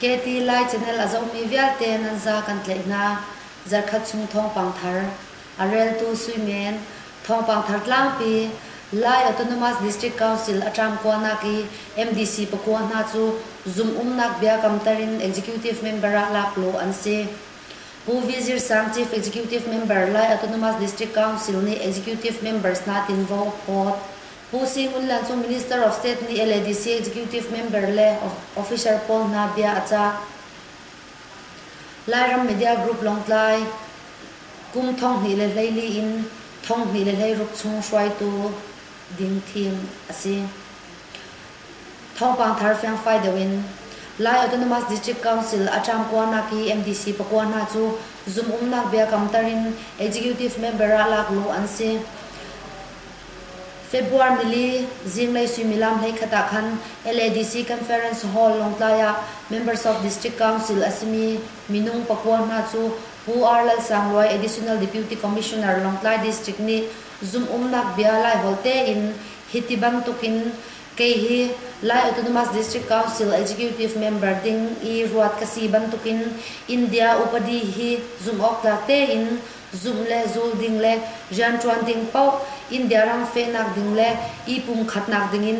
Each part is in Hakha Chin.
Keti Lai Channel a zohmi vialte nan za kan tlaih hna. Zarhkhat chung thawngpang thar. A reltu suimen, thawngpang thar tlangpi, Lai Autonomous District Council a ṭamkua nak i MDC pakua hna cu zumhumnak biakamter in executive member ah laklaw an si. Pu Vizir Sang Chief Executive Member Lai Autonomous District Council nih executive members hna tinvo phawt. Pu Sin Aung Hlaing cu Minister of State nih LADC executive member le officer pawl hna bia a cah. Lairam media group Lawngtlai kum thonghnih le hleili in thonghnih le hleiruk chung hruaitu ding thim a si. Thawngpang thar fiangfai deuh in Lai Autonomous District Council a ṭamkuanak i MDC pakua hna cu zum umnak biakamtar in executive member ah lakluh an si. February nili zinglei suimilam hleikhat ah khan LADC Conference Hall Lawngtlai ah Members of District Council a simi minung pakua hna cu Pu R. Lalsangluai Additional Deputy Commissioner Lawngtlai District nih zumhumnak bia Laiholh tein hiti bantukin kei hi Lai Autonomous District Council Executive Member ding i ruat ka si bantukin India upadi hi zumhawktlak tein zumh le zul ding le rianṭuan ding paoh, Indiaram fehnak ding le i pumkhatnak dingin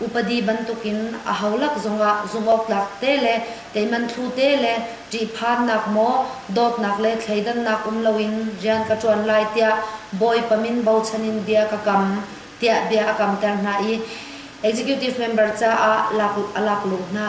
upadi bantukin aho lak zongah zumhawktlak te le teihmanthlu te le ṭihphannak maw dawtnak le thleidannak um loin rian ka ṭuan lai tiah Bawipa min bochan in bia ka kam tiah bia a kamter hna i executive member caah a laklawh hna.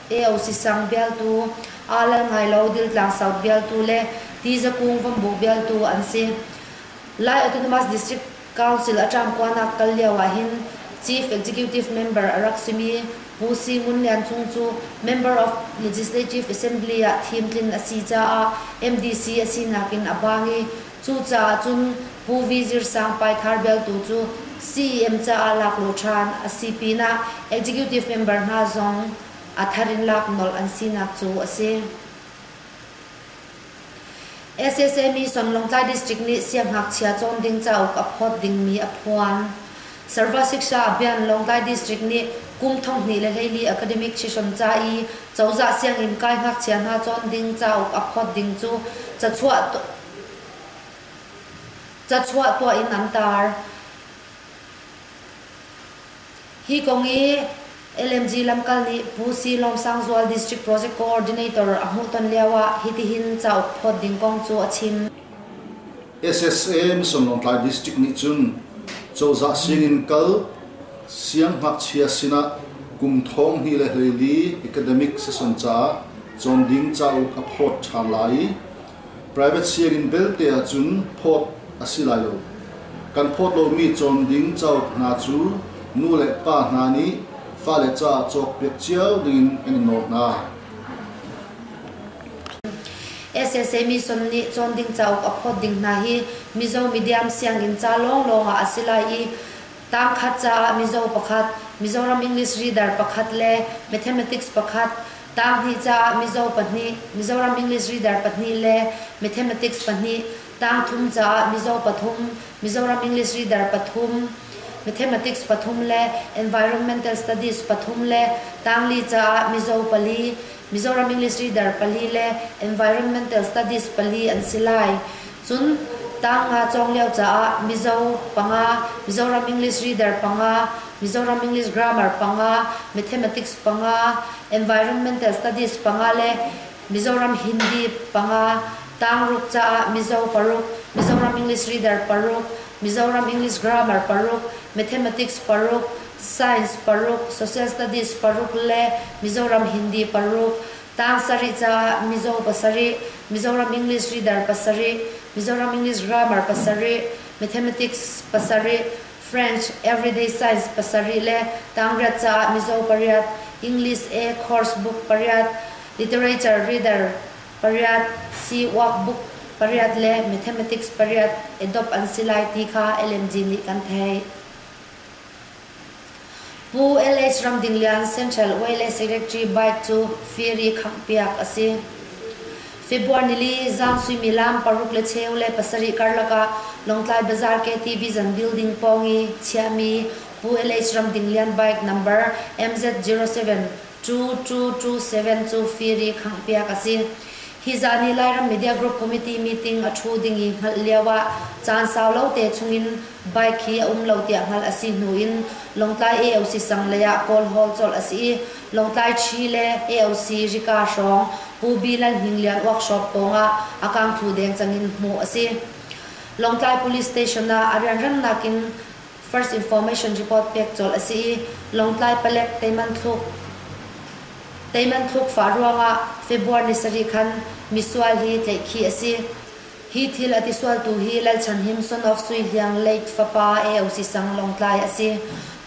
Teo Sisang bialtu, aa lal ngai lo Diltlang South bialtu le Tizakung Vambu bialtu an si. Lai Autonomous District Council a ṭamkuanak kal lio ahhin Chief Executive Member a rak simi Pu Si Ngun Lian Cung cu Member of Legislative Assembly ah thim tlin a si caah MDC a sinak in a bang i cucaah cun Pu Vizir Sang Paithar bialtu cu CEM caah laklaw ṭhan a si pinah executive member hna zong a thar in lak nolh an sinak cu a si. SSME Sonlawngtlai District nih siangngakchia cawn ding cauk a phawt dingmi a phuan. Sarva Siksha Abhiyan Lawngtlai District nih kum thonghnih le hleili academic session ca i cozah sianginn kai ngakchia hna cawn ding cauk a phawt ding cu cachuah Cachuah tuah in an tar. Hi kong i LMG lamkal nih Pu Si Lawm Sang Zual District Project Coordinator a hmuhton lioah hitihin cauk phawt ding kong cu a chim. SSA Mission Lawngtlai District nih cun cozah sinin kal sianghngakchia sinah kum thong hnih le hleili academic session caah cawn ding cauk a phawt ṭhan lai i Private share-in belte ahcun phawt a si lai lo. Kan phawt lomi cawn ding cauk hna cu nu le pa hna nih fale caah cawkpiak cio dingin kan in nawl hna. SSA Mission nih cawn ding cauk a phawt ding hna hi Mizo medium sianginn ca lawnglawng ah a si lai i tangkhat caah Mizo pakhat, Mizoram English Reader pakhat le Mathematics pakhat, Tanghnih caah mizaw pahnih, Mizoram English Reader pahnih le Mathematics pahnih, tangthum caah mizaw pathum, Mizoram English Reader pathum, Mathematics pathum le Environmental Studies pathum le tangli caah mizaw pali, Mizoram English Reader pali le Environmental Studies pali an si lai. Cun tang nga cawng lio caah Mizo panga, Mizoram English Reader panga, Mizoram English Grammar panga, Mathematics panga, Environmental Studies panga le Mizoram Hindi panga, tangruk caah Mizo paruk, Mizoram English Reader paruk, Mizoram English Grammar paruk, Mathematics paruk, Science paruk, Social Studies paruk le Mizoram Hindi paruk, Tang sarih caah Mizo pasarih, Mizoram English Reader pasarih, Mizoram English Grammar pasarih, Mathematics pasarih, French Everyday Science pasarih le tangriat caah Mizo pariat, English A Course Book pariat, Literature Reader pariat, See Workbook pariat le Mathematics pariat edop an si lai ti kha LMG nih kan theih. Pu LS Ramdinglian Central Oil and Secretary bike cu feri khanghpiak a si. February nili zaang suimilam paruk le cheu le pasarih karlak ah Lawngtlai Bazaar KTV zan building pawng i chiahmi Pu LS Ramdinglian bike number MZ072227 cu feri khanghpiak a si. Hi zaan i Lairam Media Group Committee meeting a ṭhu ding i hngalh lioah caan sau lo te chungin bike hi a um lo tiah hngalh a si hnu in Lawngtlai AOC sang lei ah Kawl Hall colh a si i Lawngtlai Chi le AOC Rika hrawng Pu Bi Lal Hnin Lian workshop pawngah a kangthu deng cang in hmuh a si. Lawngtlai Police Station ah a rianrangnak in First Information Report pek colh a si i Lawngtlai palek teiman thluk teiman thluk fah ruangah February ni sarih khan misual hi tlaih khi a si. Hi thil a tisualtu hi Lalchan Him son of Sui Hliang late fapa AOC Sang Lawngtlai a si.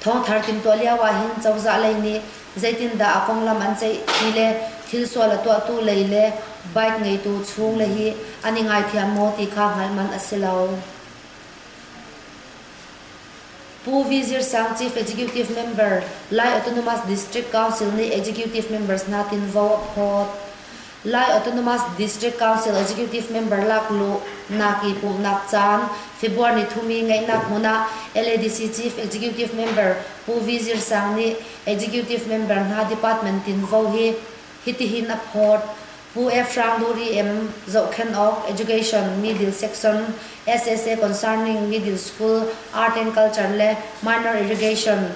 Thawngthar tin tuah lio ahhin cozah lei nih zeitindah a konglam an ceih ti le thil sual a tuahtu lei le bike ngeitu chung le hi an i ngaithiam maw ti kha hngalh man a si lo. Pu Vizir Sang Chief Executive Member Lai Autonomous District Council nih Executive Members nakinvo a phawt. Lai Autonomous District Council Executive Member lakluh nak i pumhnak caan February ni thumi ngeihnak hmun ah LADC Chief Executive Member Pu Vizir Sang nih Executive Member hna Department tinvo hi hitihin a phawt. Pu F. Hrang Duh EM, Zohkhenh awk, Education, Middle Section, SSA concerning Middle School, Art and Culture le Minor Irrigation,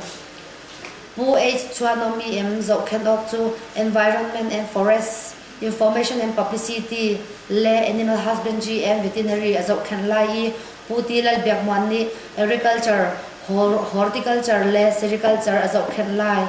Pu H. Chuanom EM, Zohkhenh awk cu Environment and Forest, Information and Publicity le Animal Husbandry and Veterinary a zohkhenh lai i Pu Ti Lal Biak Muan nih Agriculture, Horticulture le Sericulture a zohkhenh lai.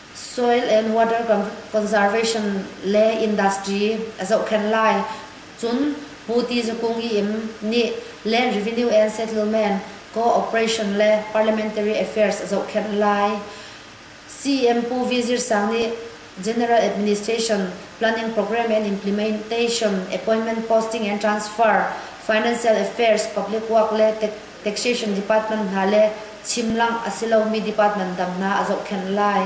Soil and water conservation le industry a zohkhenh lai. Cun Pu Ti Za Kung Iim nih Land Revenue and Settlement Co-operation le Parliamentary Affairs a zohkhenh lai. CM Pu V Zir Sang nih General Administration, Planning Program and Implementation, Appointment Posting and Transfer, Financial Affairs, Public Work le taxation department hna le chimlangh a si lomi department dang hna a zohkhenh lai.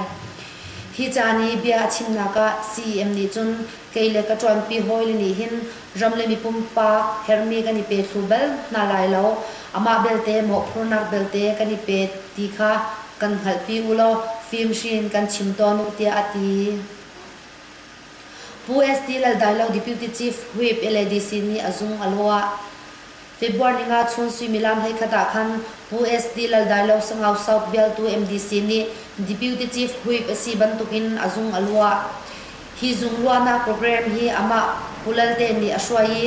Hi caan i bia a chimnak ah CEM nih cun kei le ka ṭuanpi hawile nih hin ram le mipumpak herhmi kan i pethlu bal hna lai lo. Amah belte mawhphurnak belte kan i pe ti kha kan hngalhpi u law fimhri in kan chim tawn u tiah a ti. Pu SD Laldailo Deputy Chief Whip LADC nih a zung a luah. February ni nga chun suimilam hleikhat ah khan Pu SD Laldailo Sangau South bialtu MDC nih Deputy Chief Whip a si bantukin a zung a luah. Hi zung luahnak program hi amah Pu Lalte nih a hruai i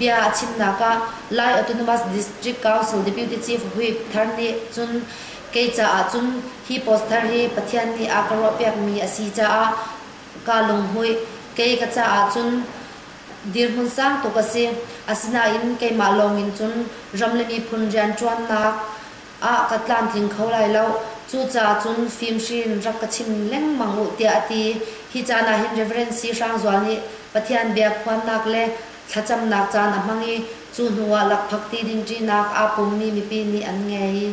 bia a chimnak ah Lai Autonomous District Council Deputy Chief Whip thar nih cun kei caah cun hi post thar hi Pathian nih a ka ruahpiakmi a si caah kaa lunghmuih. Kei ka caah cun dirhmun sang tuk a si. Asinain keimah lawng in cun ram le miphun rianṭuannak ah ka tlamtling kho lai lo. Cucaah cun fimhrin rak ka chim lengmang u tiah a ti. Hi caan ah hin Reverend Si Hrang Zual nih Pathian biakhuannak le thlacamnak caan a hmang i cu hnuah lakphakti ding ṭinak aa pummi mipi nih an ngei.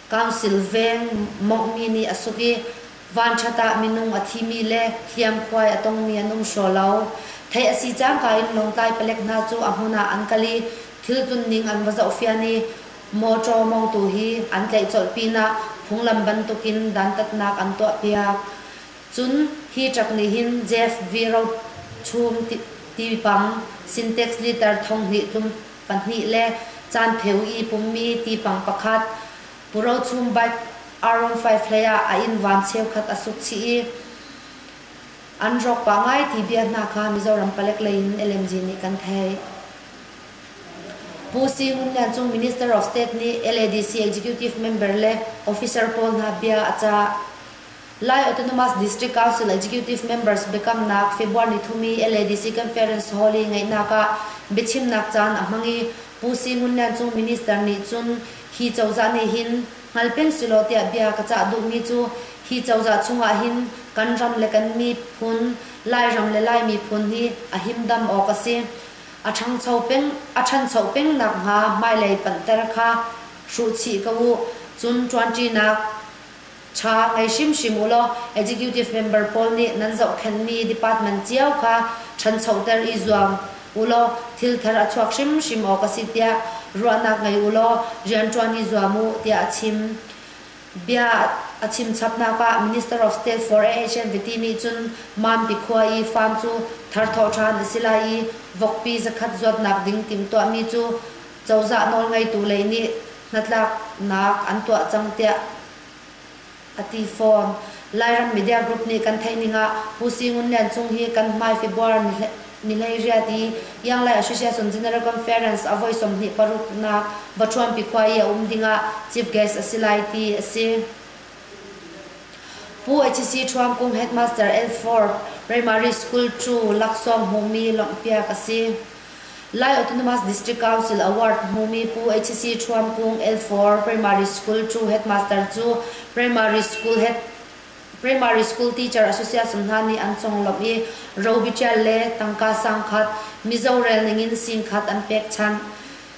Council veng mawnghmi nih a suk i vanṭhat ah minung a thimi le hliamkhuai a tongmi an um hraw lo. Theih a si cangka in Lawngtlai palek hna cu a hmun ah an kal i thil tunning an va zohfian i mawṭaw mawngtu hi an tlaih colh pinah phunglam bantukin dantatnak an tuahpiak. Cun hi truck nih hin Jeff V. Rochung tipang Syntax Leader thonghnih tlum pahnih le caanpheu i pummi tipang pakhat, purochum bike Aron five hleiah a inn van cheukhat a suk chih i an rawk pah ngai ti bia hna kha Mizoram palek lei in LMG nih kan theih. Pu Si Ngun Lian Cung Minister of State nih LADC executive member le officer pawl hna bia a cah. Lai Autonomous District Council Executive Members biakamnak February thumi LADC Conference Hall i ngeihnak ah biachimnak caan a hmang i Pu Si Ngun Lian Cung Minister nih cun hi cozah nih hin hngal peng selaw tiah bia ka cah duhmi cu hi cozah chungah hin kan ram le kan miphun, Lairam le Lai miphun hi a himdam awk a si. A ṭhangcho peng, a ṭhancho peng nakhnga hmailei panhter kha hruhchih ko u. Cun ṭuanṭinak Tha ngei hrimhrim u law Executive member pawl nih nan zohkhenhmi department cio kha ṭhanchoter i zuam u law thilthar a chuak hrimhrim awk a si tiah ruahnak ngei u law rianṭuan i zuam u tiah a chim. Bia a chimchapnak ah Minister of State for AH an viti nih cun Mampi khua i farm cu thar thawh ṭhan a si lai i vokpi zakhat zuatnak ding timhtuahmi cu Cozah nawlngeitu lei nih hnatlaknak an tuah cang tiah a ti fawn. Lairam media group nih kan theih ning ah Pu Si Ngun Lian Cung hi kan hmai February nilei riat i Yanglai Association General Conference a voi sawmhnih paruknak Bachuanpi khua i a um ding ah chief guest a si lai ti a si. Pu HC Thuam Kung Headmaster L4 Primary School Chu Laksawng hmuhmi lawmhpiak a si. Lai Autonomous District Council Award hmumi Pu HC Ṭhuamkung L4 Primary School Ṭu Headmaster cu Primary School Head Primary School Teacher Association hna nih an conglawmh i robitial le tangka sangkhat, Mizo rel ningin singkhat an pek chanh.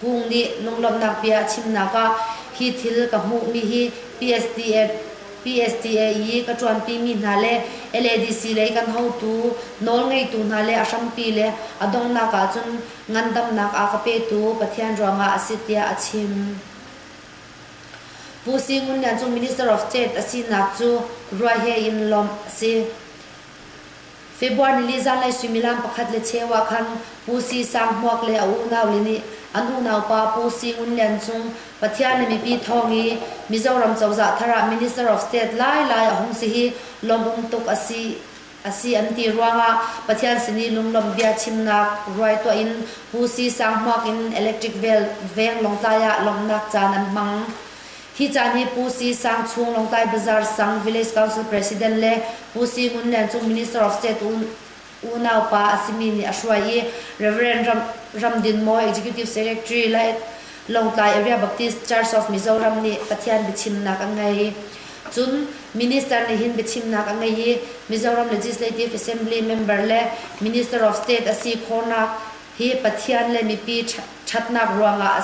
Kung nih lunglawmhnak bia a chimnak ah hi thil ka hmuhmi hi PSDF, PSDAE ka ṭuanpimi hna le LADC lei kan hotu, nawlngeitu hna le a hrampi le a donghnak ahcun ngandamnak a ka petu Pathian ruangah a si tiah a chim. Pu Si Ngun Lian cu Minister of State a sinak cu ruah he in lawmh a si. February nili zanlei suimilam pakhat le cheu ah khan Pu Si Sang Hmuak le a unaule nih an unaupa Pu Si Ngun Lian Cung Pathian le mipi thawng i Mizoram cozah thar ah Minister of State lailai a hung si hi lawmh tuk a si a si an ti ruangah Pathian sin i lunglawmh bia chimnak ruai tuah in Pu Si Sang Hmuak in electric veng Lawngtlai ah lawmhnak caan an hmang. Hi caan hi Pu Si Sang Chung Lawngtlai Bazaar Sang Village Council President le Pu Si Ngun Lian Cung Minister of State unaupa a simi nih a hruai i Reverend Ram, Ram Din Maw Executive Secretary Lawngtlai Area Baptist Church of Mizoram nih Pathian biachimnak an ngei. Cun Minister nih hin biachimnak a ngei i Mizoram Legislative Assembly member le Minister of State a si khawhnak hi Pathian le mipi ṭhatnak ruangah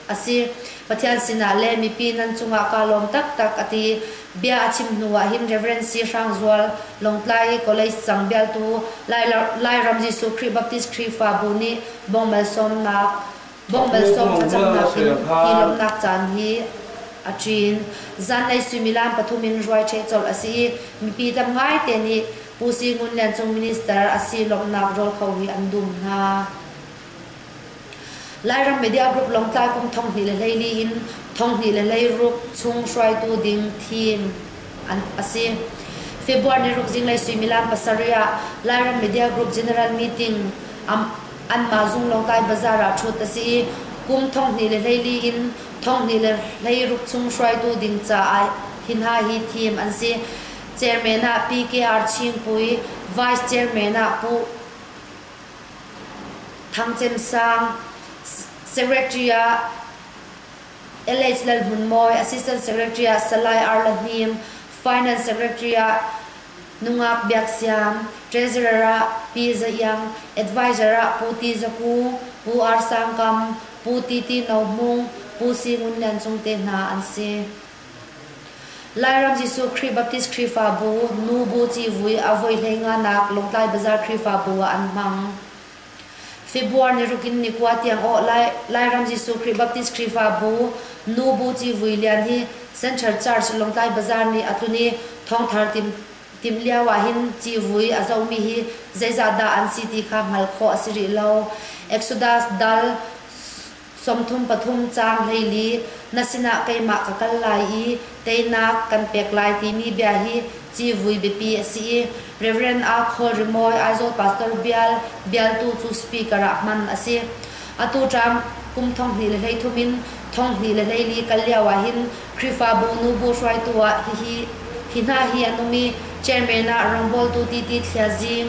a si. Pathian sinah le mipi nan cungah kaa lawm taktak a ti. Bia a chim hnu ah hin Reverend Si Hrang Zual, Lawngtlai i College Sang Bialtu, Lairam Jesuh Khrih Baptist Khrihfabu nih bawng malsawmnak bawng malsawm thlacamnak in hi lawmhnak caan hi a ṭin. Zanlei suimilam pathum in ruai ṭheh colh a si i mipi tam ngaite nih Pu Si Ngun Lian Cung Minister a si lawmhnak rawl kho hi an dum hna. Lairam media group Lawngtlai kum thonghnih le hleili in thonghnih le hleiruk chung hruaitu ding thim a si. February ni ruk zinglei suimilam pasarih ah Lairam Media Group General Meeting anmah zung Lawngtlai Bazaar ah ṭhut a si i kum thonghnih le hleili in thonghnih le hleiruk chung hruaitu ding caah hi hna hi thim an si. Chairman ah P.K.R. Chingpui, Vice Chairman ah Pu Thangcem sang Secretary ah LH Lal Hmun Mawi, Assistant Secretary ah Salai R La Hnim, Finance Secretary ah Nungak Biak Siam, Treasurer ah Pi Za Iang, Advisor ah Pu Ti Za Ku, Pu R Sang Kam, Pu Ti Ti No Hmung, Pu Si Ngun Lian Cung te hna an si. Lairam Jesuh Khrih Baptist Khrihfabu nu bu civui a voi hleinganak Lawngtlai Bazaar Khrihfabu ah an hmang. February niruk in nikua tiang awh lai Lairam Jesuh Khrih Baptist Khrihfabu nu bu civui lian hi Central Church Lawngtlai Bazaar nih a tlun i thawngthar tim tim lio ah hin civui a zomi hi zeizah dah an si ti kha hngalh khawh a si rih lo. Exodus dal Sawmthum pathum caang hleili na sinah keimah ka kal lai i teinak kan pek lai timi bia hi civui biapi a si i Reverend Aa Khawl Rimawi Aizawl Pastor Bial bialtu cu speaker ah hman a si. Atu ṭam kum thonghnih le hleithum in thonghnih le hleili kal lio ahhin Khrihfabu nu bu hruaitu ah hihi hi hna hi an um i Chairman ah rawngbawltu T.T. Thlia Zing,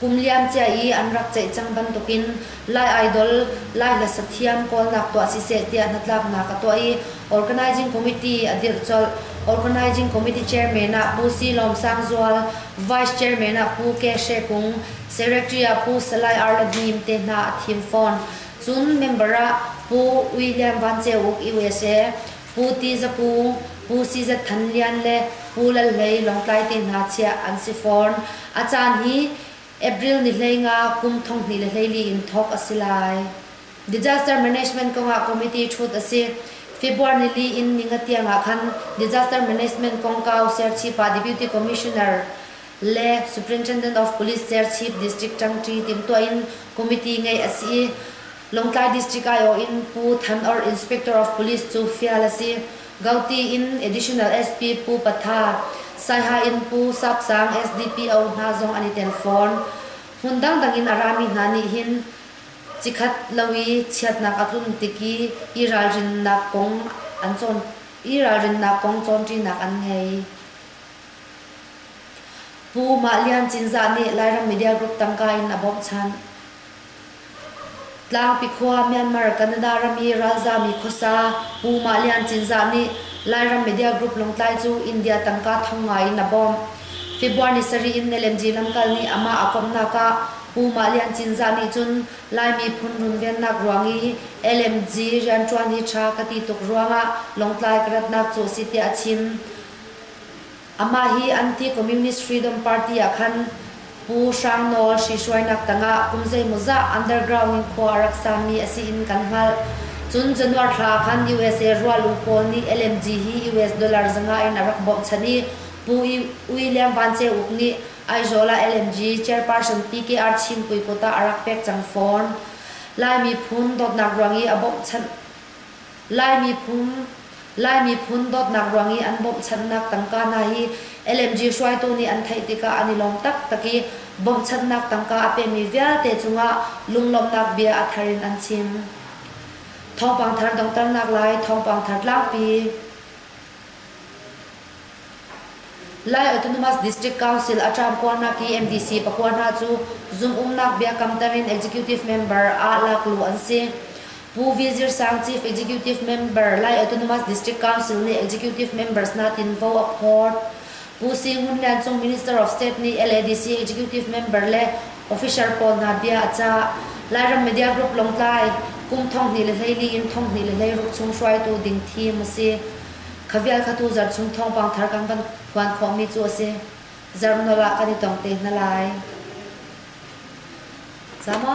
Kum liamcia i an rak ceih cang bantukin Lai Idol, Lai Hlasa Thiam kawlnak tuah siseh tiah hnatlaknak a tuah i Organizing Committee a dirh colh. Organizing Committee Chairman ah Pu Si Lawm Sang Zual, Vice Chairman ah Pu Ke Hre Kung, Secretary ah Pu Salai Arla Hnim te hna a thim fawn. Cun member ah Pu Ui Lian Van Ceu Uk, USA, Pu Ti Za Pu, Pu Si Za Than Lian le Pu Lal Hlei Lawngtlai te hna chiah an si fawn. A caan hi April ni hlei nga kum thonghnih le hleili in thawk a si lai. Disaster Management kongah committee ṭhut a si. February nili in ninga tiangah khan Disaster Management kongkau Serchhip ah Deputy Commissioner le Superintendent of Police Serchhip District Ṭangṭi timhtuah in committee ngeih a si i Lawngtlai District Aiawh in Pu Than Or Inspector of Police cu fial a si. Gauti in Additional SP Pu Patha, Saiha in Pu Sap Sang SDPO hna zong an i tel fawn. Hmun dangdang in a rami hna nih hin cikhat lo i chiatnak a tlun tik i i ralrinnak kong an cawn i ralrinnak kong cawnṭinak an ngei. Pu Mah Lian Cinzah nih Lairam Media Group tangka in a bawmh ṭhan. Tlangpi khua Myanmar, Canada ram i ralzami khuasa Pu Mah Lian Cinzah nih Lairam media group Lungtlai cu India tangka thong ngai in a bawmh. February ni sarih in Nalem-ji lamkal nih amah a komhnak ah Pu Mah Lian Cinzah nih cun Laimi phun runvennak ruang i LMG rianṭuan hi ṭha ka ti tuk ruangah Lungtlai ka ratnak cu a si tiah a chim. Amah hi Anti-Communist Freedom Party ah khan Pu Hrang Nawl hrihruainak tangah kum zeimawzah underground in khua a rak sami a si in kan hngalh. Cun Januar thla khan USA rualung pawl nih LMG hi US dollar zangah in a rak bochan i Pu William Van Ceu Uk nih Aizawl ah LMG chairperson PKR Chinpui kut ah a rak pek cang fawn. Laimi phun dawtnak ruang i a bochan Lai miphun Lai miphun dawtnak ruang i an bawmhchanhnak tangka hna hi LMG hruaitu nih an theih tikah an i lawm taktak i bawmhchanhnak tangka a pemi vialte cungah lunglawmhnak bia a thar in an chim. Thawngpang thar donghternak lai thawngpang thar tlangpi. Lai Autonomous District Council a ṭamkuarnak i MDC pakua hna cu zumhumnak biakam tamin executive member ah lakluh an si. Pu Vilzir Sang Chief Executive Member Lai Autonomous District Council nih executive members hna tinvo a phawt. Pu Si Ngun Lian Cung Minister of State nih LADC executive member le officer pawl hna bia a cah. Lairam Media Group Lawngtlai kum thonghnih le hleili in thonghnih le hleiruk chung hruaitu ding thim a si. Kha vialkhatu zarh chung thawngpang thar kan kan phuan khawhmi cu a si. Zarh no ah kan i tong te hna lai. Sama?